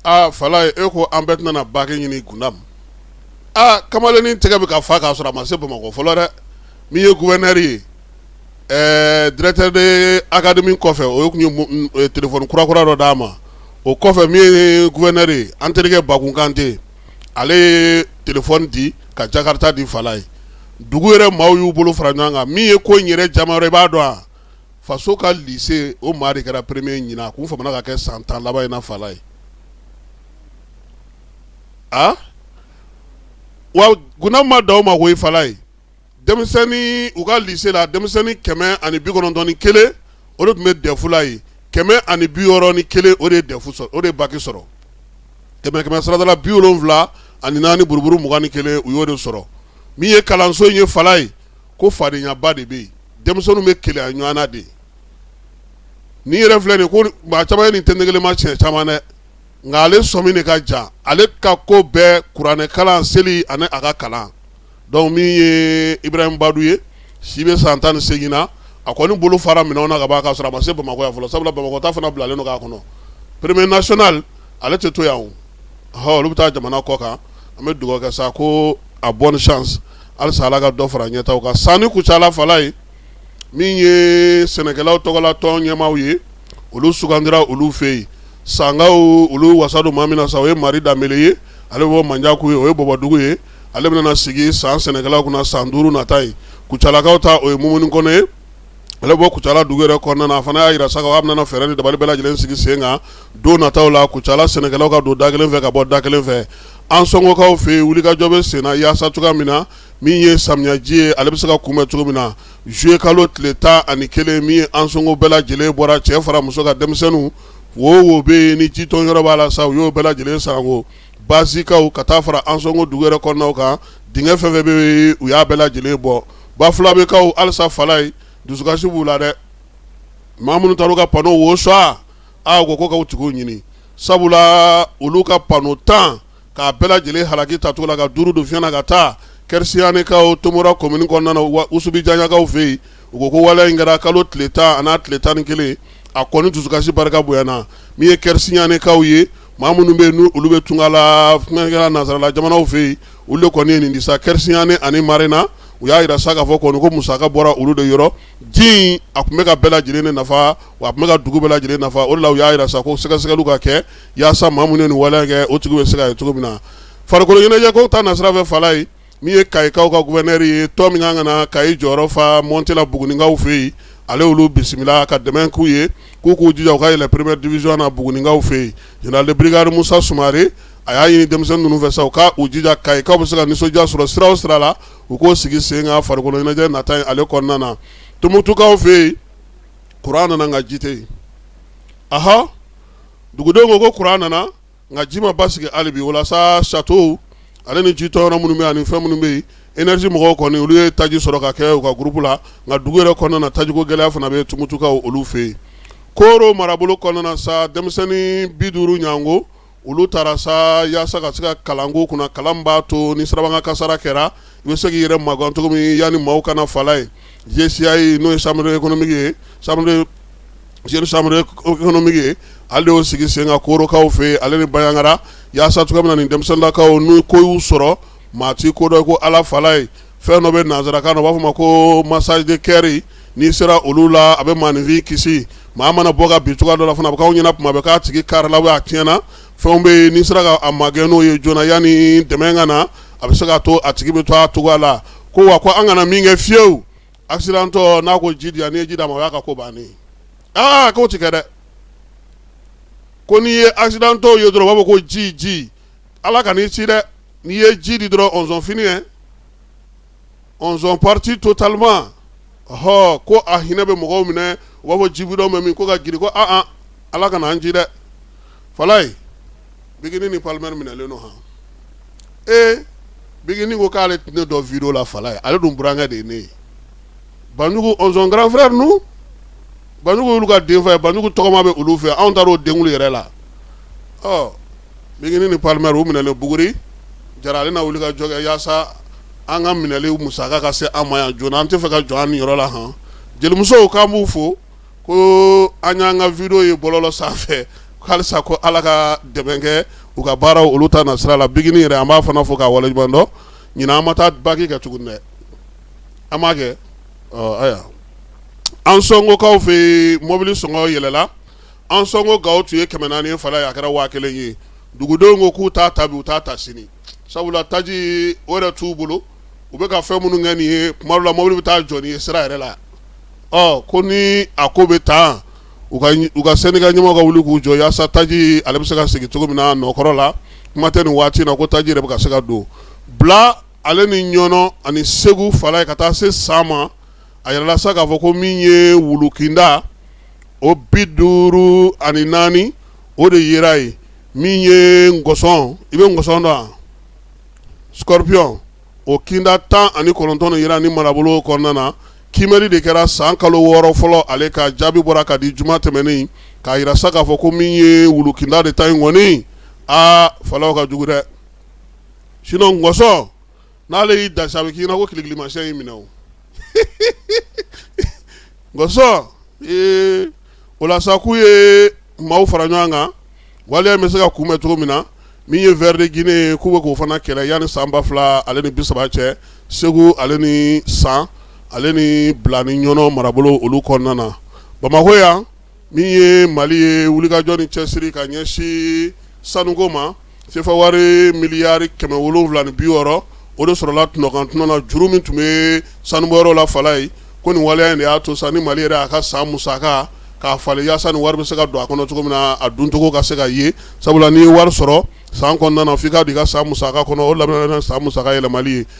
aa falayi e ko an bɛɛ tɛna baki ɲini gundam aa kamalennin tɛgɛ bɛ ka fa k'a sɔrɔ a ma se bamakɔ fɔlɔ dɛ min ye gouverneur ye ɛɛ directeur de académie kɔfɛ o tun ye téléphone kurakura dɔ d'a ma o kɔfɛ min ye gouverneur ye an terikɛ bakun kante ale ye téléphone di ka jakarita di falayi dugu yɛrɛ maaw y'u bolo fara ɲɔgɔn kan min ye ko in yɛrɛ diyaman yɔrɔ i b'a dɔn wa faso ka lycée o maa de kɛra premier ye ɲinan a tun famana ka kɛ san 10 laban in na Falayi, awa Gundam ma dan o ma koyi Falayi, denmisɛnni u ka lycée la denmisɛnni 191 o de tun bɛ DEF la yen 161 o de ye DEF sɔrɔ o de ye BAC sɔrɔ, kɛmɛ kɛmɛ sarada la 74 buruburu 21 u y'o de sɔrɔ min ye kalanso in ye Falayi ko fadenyaba de bɛ yen denmisɛnninw bɛ keleya ɲɔgɔn na de ni yɛrɛ filɛ nin ko maa caman ye nin tɛ kɛnɛma siɲɛ caman dɛ nka ale sɔmin de ka ja ale ka ko bɛɛ kuranɛ kalan seli ani a ka kalan donc min ye ibrahima badu ye si bɛ san tan ni seegin na a kɔni bolo fara minɛnw na kaban k'a sɔrɔ a ma se bamakɔ yan fɔlɔ sabula bamakɔ ta fana bilalen don k'a kɔnɔ premier national ale tɛ to yan olu bɛ taa jamana kɔ kan an bɛ dugawu kɛ sa ko a bonne chance halisa ala ka dɔ fara ɲɛtaa kan san ni kucala falayi min ye sɛnɛkɛlaw tɔgɔla tɔn ɲɛmaaw ye olu sugandira olu fɛ yen sankaw olu wasa don maa min na sa o ye mari danbele ye ale bɛ bɔ manjakuyi o ye bɔbɔdugu ye ale bɛna sigi san sɛnɛkɛlaw kunna san duuru nata ye kucalakaw ta o ye mumuni kɔnɛ ye ale bɛ bɔ kucala dugu yɛrɛ kɔnɔna na a fana y'a jira sa k'a bɛna fɛɛrɛ ni dabali bɛɛ lajɛlen sigi sen kan don nataw la kucala sɛnɛkɛlaw ka don da kelen fɛ ka bɔ da kelen fɛ ansɔngokaw fɛ yen wulikajɔ bɛ senna yaasa cogoya min na min ye samiyaji ye ale bɛ se ka kunbɛn cogo min na zuye kalo tile tan ani kelen min ye ansɔngo bɛɛ lajɛlen bɔra cɛ fara muso kan denmisɛnninw wo wo bɛ yen ni jitɔn yɔrɔ b'a la sa u y'o bɛɛ lajɛlen sanko bazikaw ka taa fara ansɔngo dugu yɛrɛ kɔnɔnaw kan dingɛ fɛn fɛn bɛ yen u y'a bɛɛ lajɛlen bɔ bafulabekaw halisa falayi dusukasi b'u la dɛ maa minnu taar'u ka panow sonya u ko k'a tigiw ɲini sabula olu ka pano tan k'a bɛɛ lajɛlen halaki ta cogo la ka duuru don fiɲɛ na ka taa kɛrisiɲanɛkaw tomora commune kɔnɔna na usubijaɲakaw fɛ yen u ko ko waleya in kɛra kalo tile tan an'a tile tan ni kelen a kɔni dusukasi barika bonyana min ye kɛrisiɲanɛkaw ye maa minnu bɛ yen olu bɛ tunga la kɔfɛla nansarala jamanaw fɛ yen olu de kɔni ye nin di sa kɛrisiɲanɛ ani marena u y'a jira sa k'a fɔ kɔni ko musaka bɔra olu de yɔrɔ ji a tun bɛ ka bɛɛ lajɛlen de nafa wa a tun bɛ ka dugu bɛɛ lajɛlen nafa o de la u y'a jira sa ko sɛgɛsɛgɛliw ka kɛ yaasa maa minnu ye nin wale kɛ o tigi bɛ se ka ye cogo min na farikoloɲɛnajɛko ta nasira fɛ falayi min ye kayikaw ka gouverneur ye tɔn min kan ka na kayi jɔyɔrɔ fa montée la buguninkaw fɛ yen ale olu bisimila ka dɛmɛ k'u ye k'u k'u jija u ka yɛlɛ première division na buguninkaw fɛ yen général de brigade musa sumare a y'a ɲini denmisɛnnin ninnu fɛ sa u k'u jija kayikaw bɛ se ka nisɔndiya sɔrɔ sira o sira la u k'o sigi sen kan farikolo ɲɛnajɛ nata ye ale kɔnɔna na tumutukaw fɛ yen kuran nana nka ji tɛ yen ah dugudenw ko ko kuran nana nka ji ma basigi hali bi walasa château ale ni ji tɔyɔrɔ minnu bɛ ani fɛn minnu bɛ yen énergie mɔgɔw kɔni olu ye taji sɔrɔ ka kɛ u ka groupe la nka dugu yɛrɛ kɔnɔna na tajiko gɛlɛya fana bɛ tumutukaw olu fɛ yen koro marabolo kɔnɔna sa denmisɛnnin bi duuru ɲɔgɔnko olu taara sa yaasa ka se ka kalanko kunna kalan b'a to ni sirabakan kasaara kɛra i bɛ se k'i yɛrɛ magan cogo min yanni maaw ka na fala ye JCI ye n'o ye chambre économique ye sa Jeune chambre économique ye ale y'o sigi sen kan korokaw fɛ ale ni bayangara yaasa cogo min na ni denmisɛnninlakaw n'u ko y'u sɔrɔ maa ti ko dɔn kɔ ala fala ye fɛn dɔ bɛ nansarakan na u b'a fɔ ma ko massage de cœur n'i sera olu la a bɛ maaninfin kisi maa mana bɔ ka bin cogoya dɔ la fana a bɛ k'aw ɲɛna tuma bɛɛ k'a tigi karila a tiɲɛna fɛn bɛ yen n'i sera k'a magɛn n'o ye joona yanni dɛmɛ ka na a bɛ se ka to a tigi bɛ to a cogoya la ko wa ko an kana min kɛ fiyewu accidenttɔ n'a ko ji di yan n'i ye ji d'a ma o y'a ka ko bannen k'o ti kɛ dɛ ko n'i ye accidenttɔ ye dɔrɔn u b'a fɔ ko ji ji ala kan'i ci dɛ n'i ye ji di dɔrɔn on sont fini on sont partis totalement ɔ ko a hinɛ bɛ mɔgɔw minɛ u b'a fɔ ji bidɔn bɛ min ko ka girin ko ala kana an ci dɛ fala Bigini ni Palmer minɛlen don han, ee Bigini ko k'ale tɛ ne dɔn vidéo la fala ye, ale dun burankɛ de ye ne ye, Banjugu on sont grand frère nous Banjugu y'olu ka den fa ye, Banjugu tɔgɔma bɛ olu fɛ, anw taar'o denkuli yɛrɛ la, ɔ Bigini ni Palmer u minɛlen buguri, Jara ale na wulikajɔ kɛ yaasa an ka minɛli musaka ka se an ma yan joona, an tɛ fɛ ka jɔ an niyɔrɔ la han, jelimusow k'an b'u fo ko an y'an ka vidéo ye bɔlɔlɔ sanfɛ halisa ko ala ka dɛmɛ kɛ u ka baara olu ta nasira la bigini yɛrɛ an b'a fana fo k'a waleɲuman dɔn ɲinan an ma taa baki kɛ tuguni dɛ an m'a kɛ ayiwa ansɔngokaw fɛ mɔbili sɔngɔ yɛlɛla ansɔngo gawo tun ye kɛmɛ naani fala ye a kɛra waa kelen ye dugudenw ko k'u t'a ta bi u t'a ta sini sabula taji o yɛrɛ t'u bolo u bɛ ka fɛn minnu kɛ nin ye tuma dɔ la mobili bɛ taa jɔ n'i ye sira yɛrɛ la ko ni a ko bɛ tan u ka syndicat ɲɛmaaw ka wuli k'u jɔ yaasa taji ale bɛ se ka segin cogo min na nɔkɔrɔ la kuma tɛ nin waati na ko taji yɛrɛ bɛ ka se ka don bila ale ni ɲɔnɔ ani segu fala ye ka taa se san ma a yirala sa k'a fɔ ko min ye wulukinda o bi duuru ani naani o de yera yen min ye ngɔsɔn i bɛ ngɔsɔn dɔn scorpion o kinda tan ani kɔnɔntɔn yera ni marabolo kɔnɔna na kiimɛli de kɛra san kalo wɔɔrɔ fɔlɔ ale ka jaabi bɔra ka di juma tɛmɛnen k'a jira sa k'a fɔ ko min ye wulu kinda de ta in kɔni aa fana ka jugu dɛ sinon ngɔsɔn n'ale y'i da sa a bɛ k'i ɲɛna ko kilikilimasiyɛn y'i minɛ ngɔsɔn o la sa k'u ye maaw fara ɲɔgɔn kan waleya bɛ se ka kunbɛn cogo min na min ye ver de Guinée ye k'u bɛ k'o fana kɛlɛ yanni san ba fila ale ni bi saba cɛ segu ale ni san ale ni bila ni ɲɔnɔ marabolo olu kɔnɔna na bamakɔ yan min ye mali ye wulikajɔ ni cɛsiri ka ɲɛsin sanuko ma sefa wari miliyari kɛmɛ wolonwula ni bi wɔɔrɔ o de sɔrɔla tɔnɔkan tɔnɔna juru min tun bɛ sanubɔyɔrɔ la fala ye ko nin waleya in de y'a to sa ni mali yɛrɛ a ka san musaka k'a falen yaasa ni wari bɛ se ka don a kɔnɔ cogo min na a doncogo ka se ka ye sabula n'i ye wari sɔrɔ san kɔnɔna na f'i k'a don i ka san musaka kɔnɔ o labanna san musaka yɛlɛmali ye